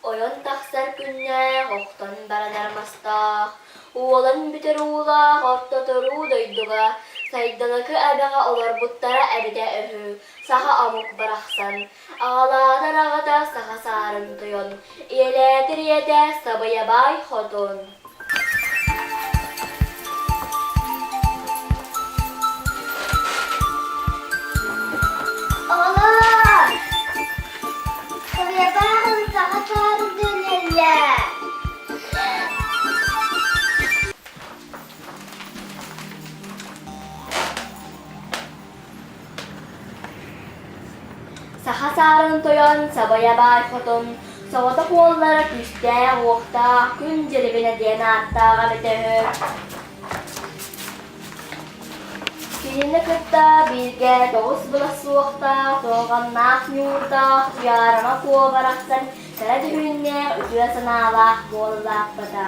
Ойон тахсар күннээх охтон баран армастаах, уолан бүтэр уулаах ортоторуу дойдуга сайдалака эбэҕэ олорбуттара эбитэ үһү, саха омук барахсан Аҕалаатар аҕата саха саарын тойон, ийэлээтэр ийэтэ Сабыйабаай Хотун. Оҕолоор! Сабыйабаан саха саарын дэнэллэр. Саха саарын тойон Сабайа баай хотун Соҕотох уоллара күүстээх-уохтаах Күн дьирибинэ диэн ааттааҕа эбитэ үһү Кинини кытта бииргэ тоҕус былас суохтаах Суорҕаннаах ньуурдаах Туйаарыма куо барахсан Кыра дьүһүннээх үтүө санаалаах буола улааппыта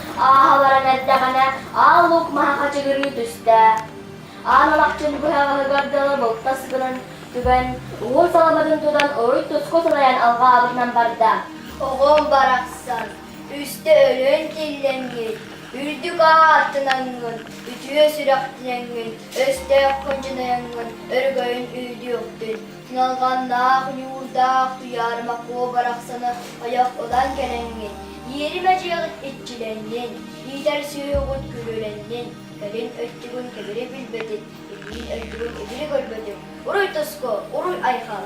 Ааһалларан эрдэҕинэ аал луук маһа хачыгырыы түстэ. Аан Алахчын быһаҕаһыгар дылы булта сыгынын түгэн, уул саламатын тутан уруй туску сылайан алҕаабытынан барда. Оҕом барахсан, үстэ өлөн тиллэҥҥин, үрдүк аартынаҥҥын, үтүө сүрэхтинаҥҥын, өстөөх хончунайаҥҥын өрөгөйүн өйдүөхтүн. Ньалҕаннаах, ньуурдаах Туйаарыма-Куо барахсаны ойох ылан кэлэҥҥин, иэримэ-дьиэҕит иччилэннин, иитэр сүөһүҕүт күрүөлэннин, кэлин өттүгүн кэбири билбэтин, илиин өттүгүн итири көрбөтүн, уруй тоско, уруй айхал!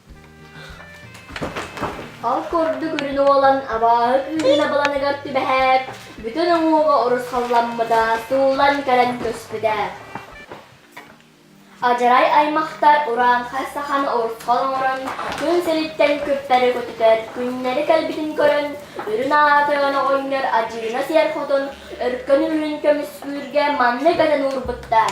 Ол курдук үрүн уолан абааһы күүһүн абыланыгар түбэһээт, бүтүн уҥуоҕа урусхалламмыта, сууллан кэлэн көспүтэ. Адьарай аймахтар урааҥхай сахан урусхал оҥорон, күн сириттэн күппэри көтүтэр, күннэри кэлбитин көрөн, үрүн аатыган оҕонньор адьыгына сиэр хотун өркөн үрүн көмүскүүргэ маннык этэн уурбуттар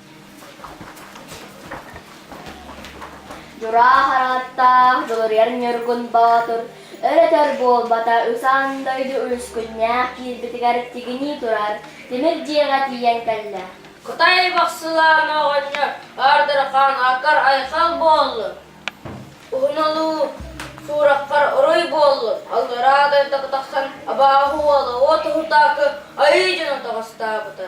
Дьураах арааттаах Дулуруйар Ньургун Боотур өр-өтөр буолбата усаан дойду үөскүннээх киирбитигэр тигинии турар тимир дьиэҕэ тиийэн кэллэ. Кытай бохсулаана оҕонньор Ардырхан акар айхал буоллун. Уһуналуу суураххар уруй буоллун. Аллараа дойдоку тахсан абааһы уола уот уһутаакы айыы дьону тоҕостаабыта.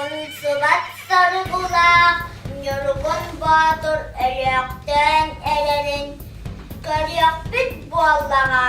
Умсубат саргылаах Ньургун Боотур өлөөхтөөн эрэрин көрүөхпүт буоллаҕа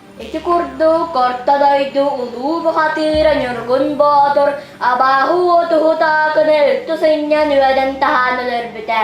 Ити курдук Орто дойду улуу бухатыыра Ньургун Боотур абааһы уотуһу таакыны үлтү сынньан үөдэн таһаан өлөрбүтэ.